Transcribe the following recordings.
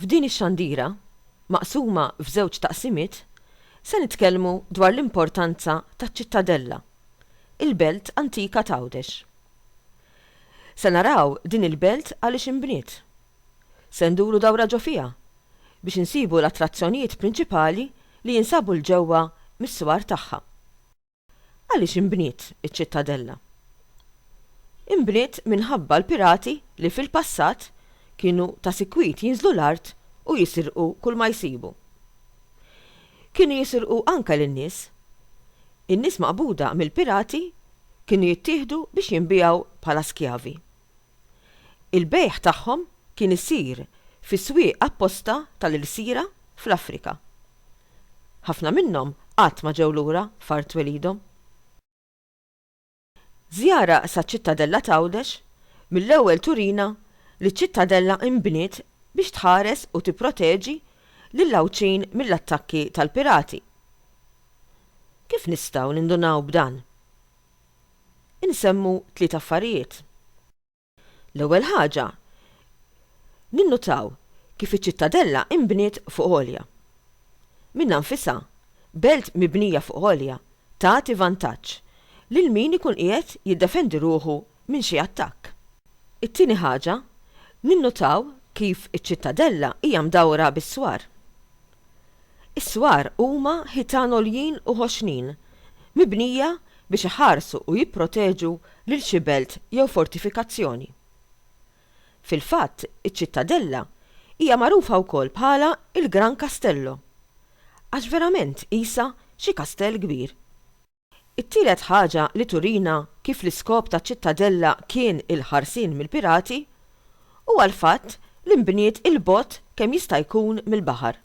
F'din ix-xandira, maqsuma f'żewġ taqsimiet, se nitkellmu dwar l-importanza taċ-Ċittadella, il-belt antika t'Għawdex. Se naraw din il-belt għaliex inbniet. Se nduru dawra ġo fiha biex insibu l-attrazzjonijiet prinċipali li jinsabu 'l ġewwa mis-swar tagħha. Għaliex inbniet iċ-Ċittadella? Inbniet minħabba l-pirati li fil-passat kienu ta' sikwit jinżlu l-art u jisirqu kulma jsibu. Kienu jisirqu anke lin-nies. In-nies maqbuda mill-pirati kienu jittieħdu biex jinbiegħu bħala skjavi. Il-bejgħ tagħhom kien isir fi swieq apposta tal-ilsira fl-Afrika. Ħafna minnhom qatt ma ġew lura f'art twelidhom. Żjara saċ-Ċittadella t'Għawdex mill-ewwel turina li ċ-Ċittadella inbniet biex tħares u tipproteġi lill-Għawdxin mill-attakki tal-pirati. Kif nistgħu nindunaw b'dan? insemmu tliet affarijiet. L-ewwel ħaġa, ninnutaw kif iċ-Ċittadella inbniet fuq għolja. Minnha nfisha, belt mibnija fuq għolja tagħti vantaġġ lil min ikun qiegħed jiddefendi ruħu minn xi attakk. It-tieni ħaġa, ninnutaw kif iċ-Ċittadella hija mdawra bis-swar. Is-swar huma ħitan għoljin u ħoxnin, mibnija biex iħarsu u jipproteġu lil xi belt jew fortifikazzjoni. Fil-fatt, iċ-ċittadella hija magħrufa wkoll bħala il-Gran Castello, għax verament qisha xi kastell kbir. It-tielet ħaġa li turina kif l-iskop ta' Ċittadella kien il-ħarsien mill-pirati huwa l-fatt li nbniet 'il bogħod kemm jista' jkun mill-baħar.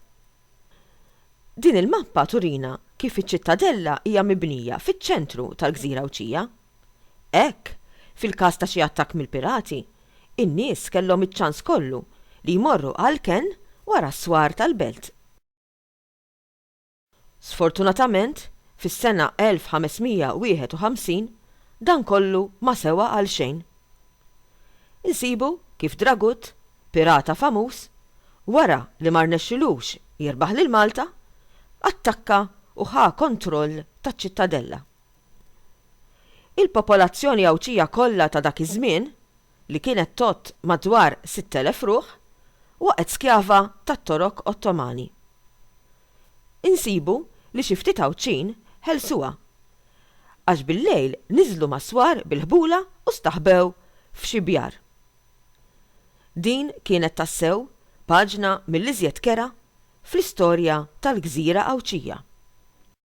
Din il-mappa turina kif iċ-Ċittadella hija mibnija fiċ-ċentru tal-gżira Għawdxija. Hekk, fil-każ ta' xi attakk mill-pirati, in-nies kellhom iċ-ċans kollu li jmorru għall-kenn wara s-swar tal-belt. Sfortunatament, fis-sena 1551, dan kollu ma sewa għal xejn. Insibu kif Dragut, pirata famuż, wara li ma rnexxilux jirbaħ lil Malta, attakka u ħa kontroll taċ-Ċittadella. Il-popolazzjoni Għawdxija kollha ta' dak iż-żmien, li kienet tgħodd madwar 6,000 ruħ, waqgħet skjava tat-Torok Ottomani. Insibu li xi ftit Għawdxin ħelsuha, għax bil-lejl niżlu mas-swar bil-ħbula u staħbew f'xi bjar. Din kienet tassew paġna mill-iżjed kerha fl-istorja tal-gżira Għawdxija.